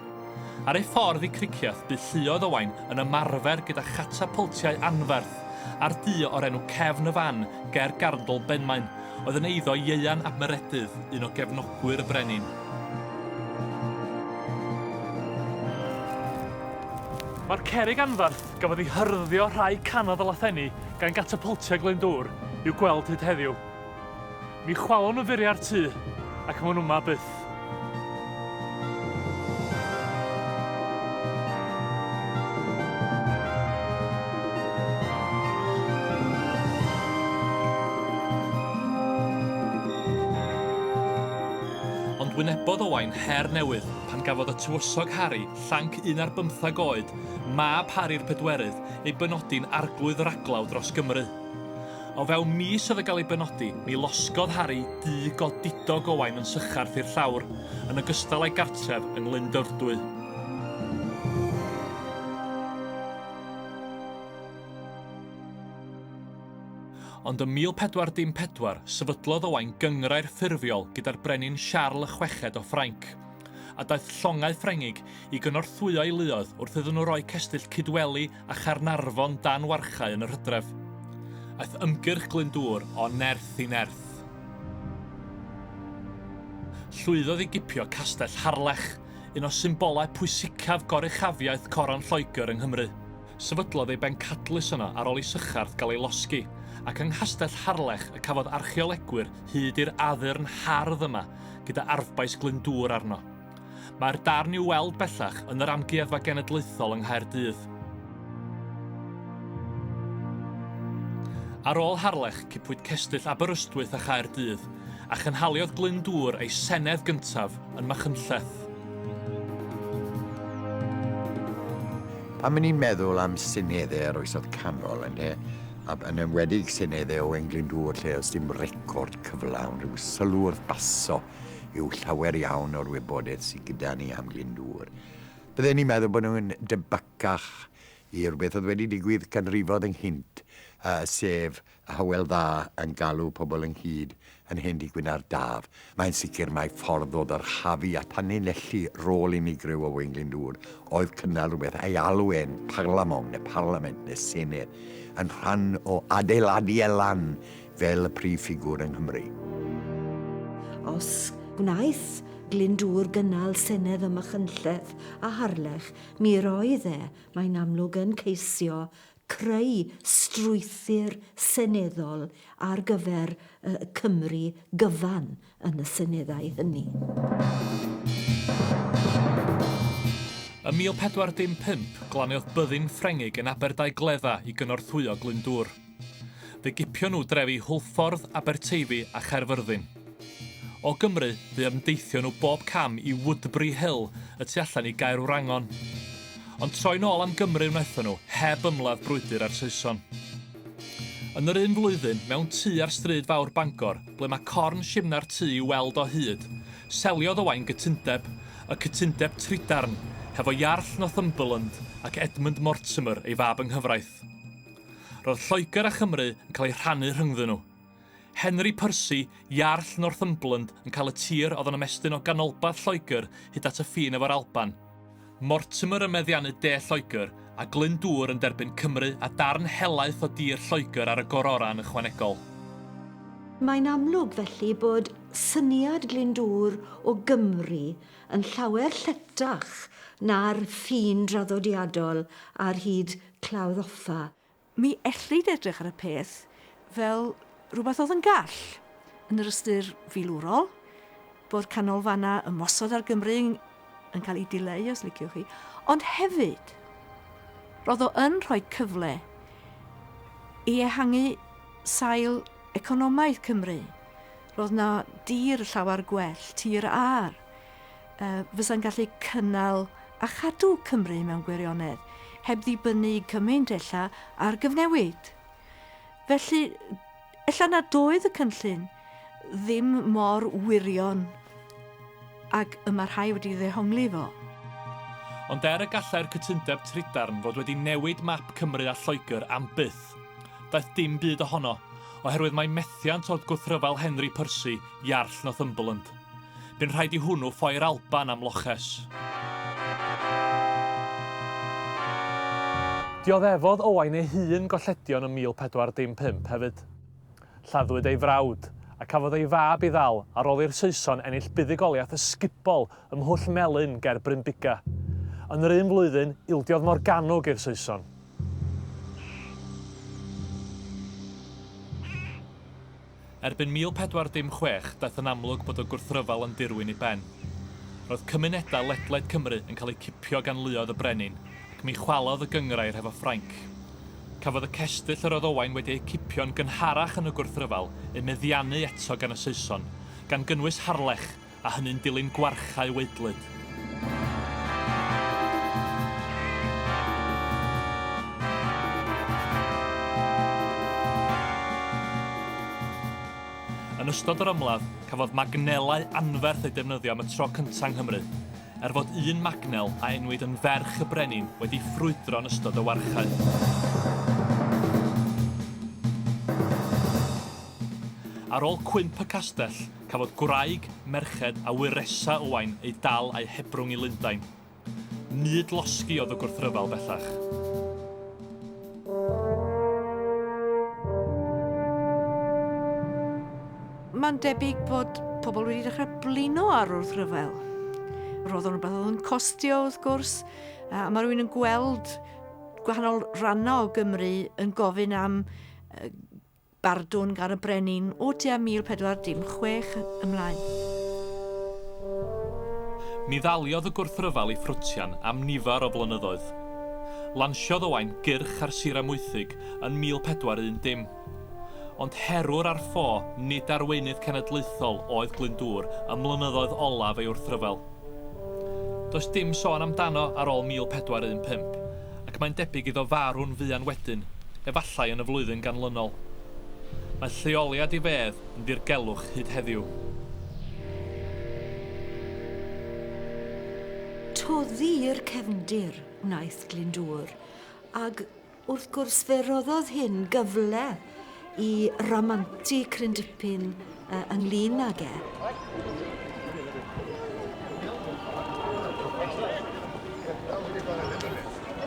Speaker 1: Ar ei ffordd i Cricieth bu lluoedd Owain yn ymarfer gyda chatapwltiau anferth, a'r du o'r enw Cefn y Fan ger Garndl Benmaen oedd yn eiddo Ieuan ap Meredydd, un o gefnogwyr y brenin. Mae'r cerrig anferth gafodd ei hyrddio rhai canoedd o lathenni gan gatapwltiau Glyndŵr i'w gweld hyd heddiw. Mi chwalwn y furiau'r tŷ, ac mae'n yma byth. Ond wynebodd Owain her newydd pan gafodd y tywysog Harri, llanc un ar bymtheg oed, mab Harri'r Pedwerydd, ei benodi'n Arglwydd Raglaw dros Gymru. O fewn mis oedd yn cael ei benodi, mi losgodd Harry du godidog Owain yn sycharth i'r llawr, yn ogystal â'i gartref yng Nghlyndyrdwy. ond ym 1414 sefydlodd Owain gyngrair ffurfiol gyda'r brenin Siarl y Chweched o Ffrainc, a daeth llongau Ffrengig i gynorthwyo'i luoedd wrth iddyn nhw roi cestyll Cydweli a Chaernarfon dan warchae yn yr hydref. Aeth ymgyrch Glyndŵr o nerth i nerth. Llwyddodd i gipio Castell Harlech, un o symbolau pwysicaf goruchafiaeth Coron Lloegr yng Nghymru. Sefydlodd ei bencadlys yno ar ôl i Sycharth gael ei losgi, ac yng Nghastell Harlech y cafodd archeolegwyr hyd i'r addurn hardd yma gyda arfbais Glyndŵr arno. Mae'r darn i'w weld bellach yn yr Amgueddfa Genedlaethol yng Nghaerdydd. Ar ôl Harlech, cipwyd cestyll Aberystwyth a Chaerdydd, a chynhaliodd Glyndŵr ei senedd gyntaf yn Machynlleth.
Speaker 4: Pan ni'n meddwl am seneddau yr Oesoedd Canol, ynde, a yn enwedig seneddau Owain Glyndŵr lle oes dim record cyflawn, rhyw sylw wrth baso, yw llawer iawn o'r wybodaeth sydd gyda ni am Glyndŵr. Bydden ni'n meddwl bod nhw'n debycach i rhywbeth oedd wedi digwydd canrifoedd ynghynt, sef y Hywel Dda yn galw pobl ynghyd yn hen dŷ gwyn ar daf. Mae'n sicr mai ffordd o ddyrchafu a tanlinellu rôl unigryw Owain Glyndŵr oedd cynnal rhywbeth a'i alw e'n Parlamong neu Parlament neu Senedd yn rhan o adeiladu e lan fel y prif ffigwr yng Nghymru.
Speaker 9: Os gwnaeth Glyndŵr gynnal senedd ym Machynlleth a Harlech, mi roedd e, mae'n amlwg, yn ceisio creu strwythur seneddol ar gyfer Cymru gyfan, yn y seneddau hynny.
Speaker 1: Ym 1415, glaniodd byddin Ffrengig yn Aberdaugledda i gynorthwyo Glyndŵr. Fe gipio nhw drefi Hwlffordd, Aberteifi a Chaerfyrddin. O Gymru, fe ymdeithio nhw bob cam i Woodbury Hill y tu allan i Gaerwrangon. Ond troi'n ôl am Gymru wnaethon nhw, heb ymladd brwydr â'r Saeson. Yn yr un flwyddyn, mewn tŷ ar Stryd Fawr Bangor, ble mae corn shimna'r tu i'w weld o hyd, seliodd Owain gytundeb, y cytundeb trudarn, hefo Iarll Northumberland ac Edmund Mortimer, ei fab yng nghyfraith. Roedd Lloegr a Chymru yn cael eu rhannu rhyngddyn nhw. Henry Percy, Iarll Northumberland, yn cael y tir oedd yn ymestyn o ganolbarth Lloegr hyd at y ffin efo'r Alban. Mortimer yn meddiannu De Lloegr, a Glyndŵr yn derbyn Cymru a darn helaeth o dir Lloegr ar y gororau yn ychwanegol.
Speaker 9: Mae'n amlwg felly bod syniad Glyndŵr o Gymru yn llawer lletach na'r ffin draddodiadol ar hyd Clawdd Offa, Mi ellid
Speaker 5: edrych ar y peth fel rhywbeth oedd yn gall, yn yr ystyr filwrol, bod canolfannau ymosod ar Gymru yn cael eu dileu, os liciwch chi, ond hefyd, roedd o yn rhoi cyfle i ehangu sail economaidd Cymru. Roedd 'na dir llawer gwell, tir ar. fysa'n gallu cynnal a chadw Cymru mewn gwirionedd, heb ddibynnu cymaint ella ar gyfnewid. Felly, ella na doedd y cynllun ddim mor wirion ac y mae rhai wedi ddehongli fo. Ond
Speaker 1: er y gallai'r cytundeb trydarn fod wedi newid map Cymru a Lloegr am byth, daeth dim byd ohono, oherwydd mae methiant oedd gwrthryfel Henry Percy, Iarll Northumberland. Bu'n rhaid i hwnnw ffoi'r Alban am loches. Dioddefodd Owain ei hun golledion ym 1415 hefyd. Lladdwyd ei frawd, a cafodd ei fab i ddal ar ôl i'r Saeson ennill buddugoliaeth ysgubol ym Mhwll Melyn ger Brynbuga. Yn yr un flwyddyn, ildiodd Morgannwg i'r Saeson. Erbyn 1416 daeth yn amlwg bod y gwrthryfel yn dirwyn i ben. Roedd cymunedau ledled Cymru yn cael eu cipio gan luoedd y brenin ac mi chwalodd y gynghrair hefo Ffrainc. Cafodd y cestyll yr oedd Owain wedi eu cipio'n gynharach yn y gwrthryfel eu meddiannu eto gan y Saeson, gan gynnwys Harlech, a hynny'n dilyn gwarchae waedlyd. Yn ystod yr ymladd, cafodd magnelau anferth eu defnyddio am y tro cyntaf yng Nghymru, er fod un magnel a enwyd yn ferch y brenin wedi ffrwydro yn ystod y warchae. Ar ôl cwymp y castell, Cafodd gwraig, merched a ŵyr Ressa Owain eu dal a'u hebrwng i Lundain. Mud losgi oedd y gwrthryfel bellach.
Speaker 5: Mae'n debyg bod pobl wedi dechrau blino ar wrthryfel. Roedd o'n rhywbeth oedd yn costio, wrth gwrs, a mae rhywun yn gweld gwahanol rannau o Gymru yn gofyn am Bardwn gan y brenin o tua 1416 ymlaen.
Speaker 1: Ni ddaliodd y gwrthryfel ei ffrwtian am nifer o flynyddoedd. Lansiodd Owain gyrch ar Sir Amwythig yn 1410. Ond herwr ar ffo, nid arweinydd cenedlaethol oedd Glyndŵr ym mlynyddoedd olaf ei wrthryfel. Does dim sôn amdano ar ôl 1415, ac mae'n debyg iddo farw'n fuan wedyn, efallai yn y flwyddyn ganlynol. Mae lleoliad ei fedd yn ddirgelwch hyd heddiw.
Speaker 9: Toddi'r cefndir wnaeth Glyndŵr, ag Wrth gwrs fe roddodd hyn gyfle i ramantu cryn dipyn yy ynglyn ag e.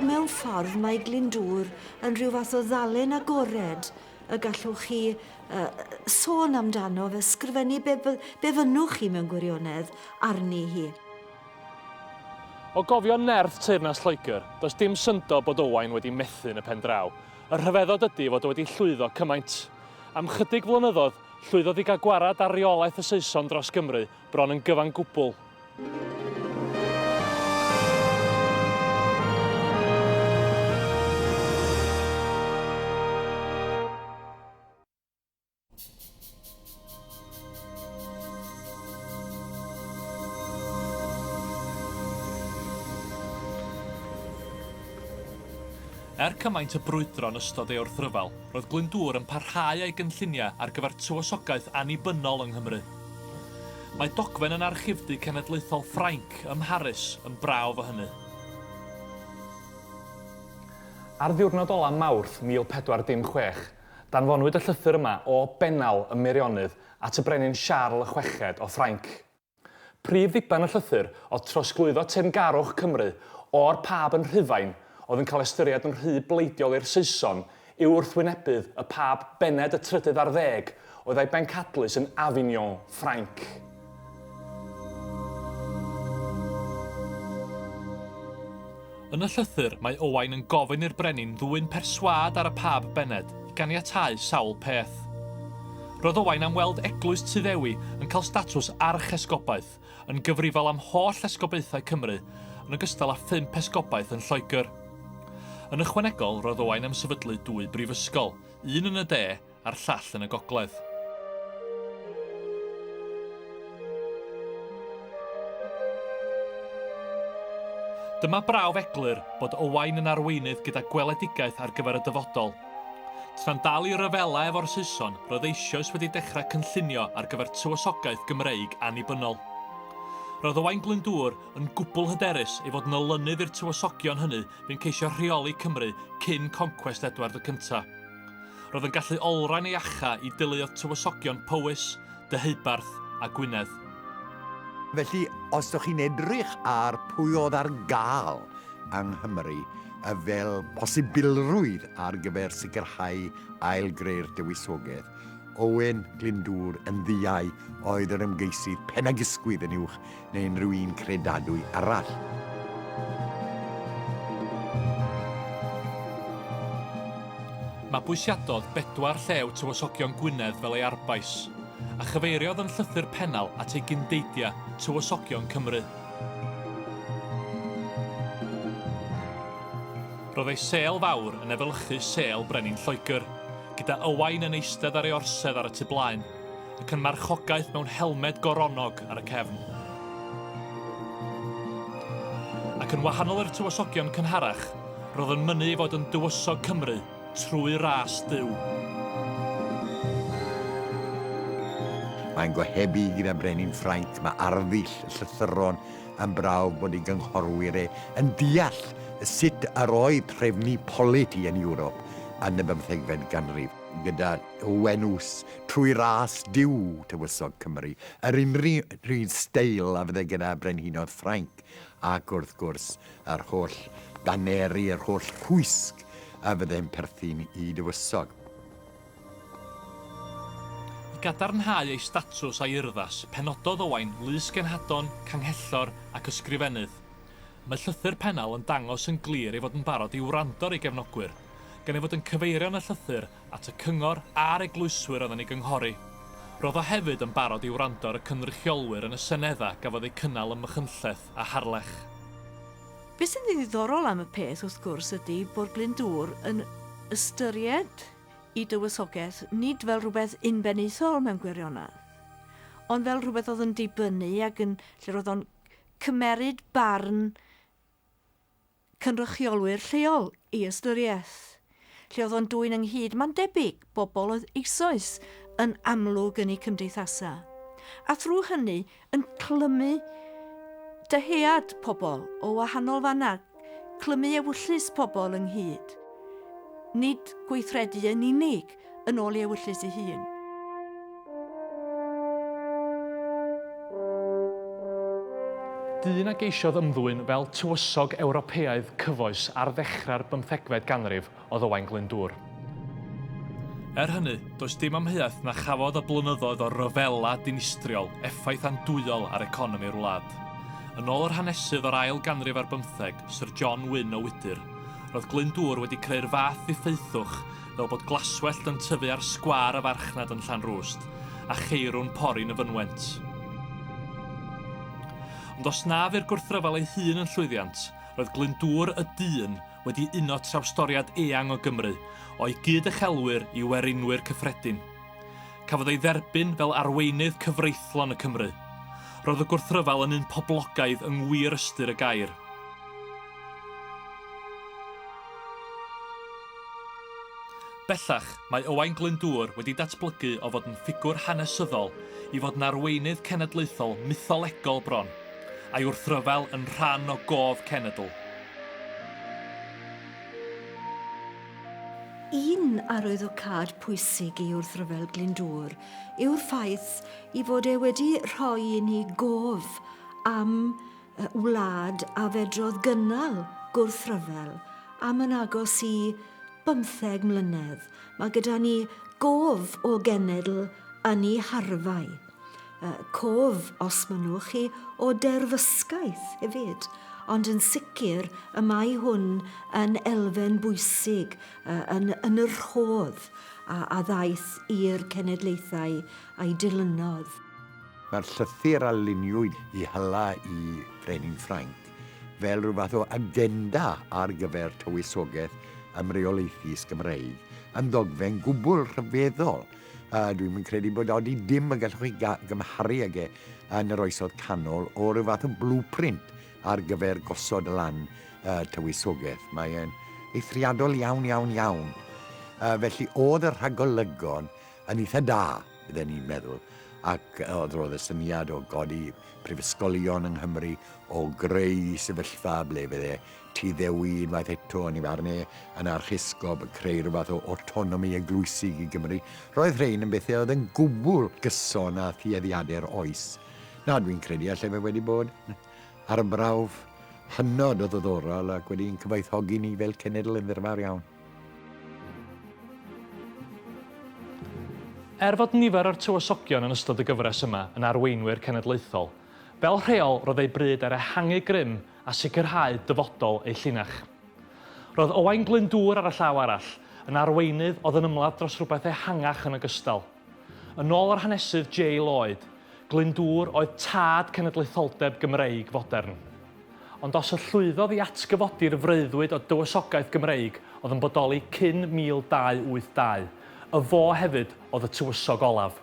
Speaker 9: Mewn ffordd mae Glyndŵr yn rhyw fath o ddalen agored y gallwch chi uh, sôn amdano fe sgrifennu be, be fynnwch chi mewn gwirionedd arni hi.
Speaker 1: O gofio nerth teyrnas Lloegr, does dim syndod bod Owain wedi methu yn y pen draw. Y rhyfeddod ydy fod o wedi llwyddo cymaint. Am 'chydig flynyddoedd, llwyddodd i gael gwarad ar reolaeth y Saeson dros Gymru, bron yn gyfan gwbl. Er cymaint y brwydro yn ystod ei wrthryfel, roedd Glyndŵr yn parhau â'i gynlluniau ar gyfer tywysogaeth annibynnol yng Nghymru. Mae dogfen yn Archifdy Cenedlaethol Ffrainc ym Mharis yn brawf o hynny. Ar ddiwrnod olaf Mawrth 1416, Danfonwyd y llythyr yma o Bennal ym Meirionnydd at y Brenin Siarl y Chweched o Ffrainc. Prif ddiben y llythyr oedd trosglwyddo teyrngarwch Cymru o'r Pab yn Rhufain, oedd yn cael ystyried yn rhy bleidiol i'r Saeson, i'w wrthwynebydd, y Pab Bened y Trydydd ar Ddeg, oedd a'i bencadlys yn Avignon, Ffrainc. Yn y llythyr, mae Owain yn gofyn i'r brenin ddwyn perswâd ar y Pab Bened i ganiatáu sawl peth. Roedd Owain am weld Eglwys Tŷ Ddewi yn cael statws archesgobaeth, yn gyfrifol am holl esgobaethau Cymru, yn ogystal â phump esgobaeth yn Lloegr. Yn ychwanegol, roedd Owain am sefydlu dwy brifysgol, un yn y de a'r llall yn y gogledd. Dyma brawf eglur bod Owain yn arweinydd gyda gweledigaeth ar gyfer y dyfodol. Tra'n dal i ryfela efo'r Saeson, roedd eisioes wedi dechrau cynllunio ar gyfer tywysogaeth Gymreig annibynnol. Roedd Owain Glyndŵr yn gwbl hyderus ei fod yn olynydd i'r tywysogion hynny fu'n ceisio rheoli Cymru cyn concwest Edward y Cyntaf. Roedd yn gallu olrhain ei acha i deuluoedd tywysogion Powys, Deheubarth a Gwynedd.
Speaker 4: Felly, os dych chi'n edrych ar pwy oedd ar gael yng Nghymru fel posibilrwydd ar gyfer sicrhau ail-greu'r Dywysoges, Owen Glyndŵr yn ddiau oedd yr ymgeisydd pen-a-gysgwydd yn uwch neu unrhyw un credadwy arall.
Speaker 1: Mabwysiadodd bedwar llew Tywysogion Gwynedd fel ei arbais, a chyfeiriodd yn llythyr pennal at ei gyndeidiau Tywysogion Cymru. Roedd ei sêl fawr yn efelychu sêl Brenin Lloegr, gyda Owain yn eistedd ar ei orsedd ar y tu blaen. ac yn marchogaeth mewn helmed goronnog ar y cefn. Ac yn wahanol i'r tywysogion cynharach, roedd yn mynnu ei fod yn dywysog Cymru trwy ras Duw.
Speaker 4: Mae'n gohebu gyda brenin Ffrainc, mae arddull y llythyron yn brawf bod ei gynghorwyr e yn deall sut yr oedd trefnu politi yn Ewrop yn y bymthegfed ganrif, gyda O Wenws, trwy ras Duw, Tywysog Cymru, yr unrhyw steil a fydde gyda brenhinoedd Ffrainc, ac wrth gwrs, yr holl daneri, yr holl rhwysg a fydde'n perthyn i dywysog. I
Speaker 1: gadarnhau ei statws a'i urddas, penododd Owain lys genhadon, canghellor, ac ysgrifennydd. Mae llythyr Pennal yn dangos yn glir ei fod yn barod i wrando ar ei gefnogwyr, gan ei fod yn cyfeirio'n y llythyr at y cyngor a'r eglwyswyr oedd yn ei gynghori. Roedd o hefyd yn barod i wrando ar y cynrychiolwyr yn y Senedd a gafodd eu cynnal ym Machynlleth a Harlech.
Speaker 5: Be sy'n ddiddorol am y peth, wrth gwrs, ydy bod Glyndŵr yn ystyried ei dywysogaeth nid fel rhywbeth unbenaethol mewn gwirionedd, ond fel rhywbeth oedd yn dibynnu ac yn, lle roedd o'n cymeryd barn cynrychiolwyr lleol i ystyriaeth. Lle oedd o'n dwyn ynghyd, mae'n debyg, bobl oedd eisoes yn amlwg yn eu cymdeithasau, a thrwy hynny yn clymu dyhead pobl o wahanol fannau, clymu ewyllys pobl ynghyd, nid gweithredu yn unig. yn ôl i ewyllys ei hun.
Speaker 1: Dyn a geisiodd ymddwyn fel tywysog Ewropeaidd cyfoes ar ddechrau'r bymthegfed ganrif oedd Owain Glyndŵr. Er hynny, does dim amheuaeth na chafodd y blynyddoedd o ryfela dinistriol effaith andwyol ar economi'r wlad. Yn ôl yr hanesydd o'r ail ganrif ar bymtheg, Syr John Wynne o Wydyr, roedd Glyndŵr wedi creu'r fath ddiffeithwch fel bod glaswellt yn tyfu ar sgwâr y farchnad yn Llanrwst, a cheirw'n pori'n y fynwent. Ond os na fu'r gwrthryfel ei hun yn llwyddiant, roedd Glyndŵr y dyn wedi uno trawstoriad eang o Gymru, o'i gyd-uchelwyr i werinwyr cyffredin. Cafodd ei dderbyn fel arweinydd cyfreithlon y Cymry. Roedd y gwrthryfel yn un poblogaidd yng ngwir ystyr y gair. Bellach, mae Owain Glyndŵr wedi datblygu o fod yn ffigwr hanesyddol i fod yn arweinydd cenedlaethol mytholegol bron, a'i wrthryfel yn rhan o gof cenedl.
Speaker 9: Un arwyddocâd pwysig i wrthryfel Glyndŵr yw'r ffaith ei fod e wedi rhoi i ni gof am Y wlad a fedrodd gynnal gwrthryfel am yn agos i bymtheg mlynedd. Mae gyda ni gof o genedl yn ei harfau. Y cof, os mynnwch chi, o derfysgaeth hefyd. Ond yn sicr y mae hwn yn elfen bwysig uh, yn, yn yr rhodd a, a ddaeth i'r cenedlaethau a'i dilynodd. Mae'r
Speaker 4: llythyr a luniwyd i hala i Frenin Ffrainc fel rhyw fath o agenda ar gyfer tywysogaeth ymreolaethus Gymreig yn ddogfen gwbl rhyfeddol a dwi'm yn credu bod odi dim y gallwch chi gymharu ag e yn yr oesoedd canol o ryw fath o blueprint ar gyfer gosod lan tywysogaeth. Mae e'n eithriadol iawn, iawn, iawn. Felly, oedd y rhagolygon yn eitha da. Fydden ni'n meddwl, ac oedd roedd y syniad o godi prifysgolion yng Nghymru, o greu sefyllfa ble fydde Tŷ Ddewi unwaith eto yn ei farn e, yn archesgob, yn creu rhywbeth o awtonomi eglwysig i Gymru. Roedd rhein yn bethau oedd yn gwbl gyson â thueddiadau'r oes. Na, dwi'n credu allai fe wedi bod yn arbrawf hynod o ddoddorol ac wedi'n cyfoethogi ni fel cenedl yn ddirfawr iawn.
Speaker 1: Er fod nifer o'r tywysogion yn ystod y gyfres yma yn arweinwyr cenedlaethol, fel rheol roedd eu bryd ar ehangu grym a sicrhau dyfodol eu llinach. Roedd Owain Glyndŵr ar y llaw arall, yn arweinydd oedd yn ymladd dros rywbeth ehangach yn ogystal. Yn ôl yr hanesydd J. Lloyd, Glyndŵr oedd tad cenedlaetholdeb Gymreig fodern. Ond os y llwyddodd i atgyfodi'r freuddwyd o dywysogaeth Gymreig oedd yn bodoli cyn 1282, y fo hefyd oedd y tywysog olaf.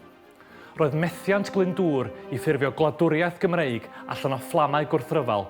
Speaker 1: Roedd methiant Glyndŵr i ffurfio gwladwriaeth Gymreig allan o fflamau gwrthryfel,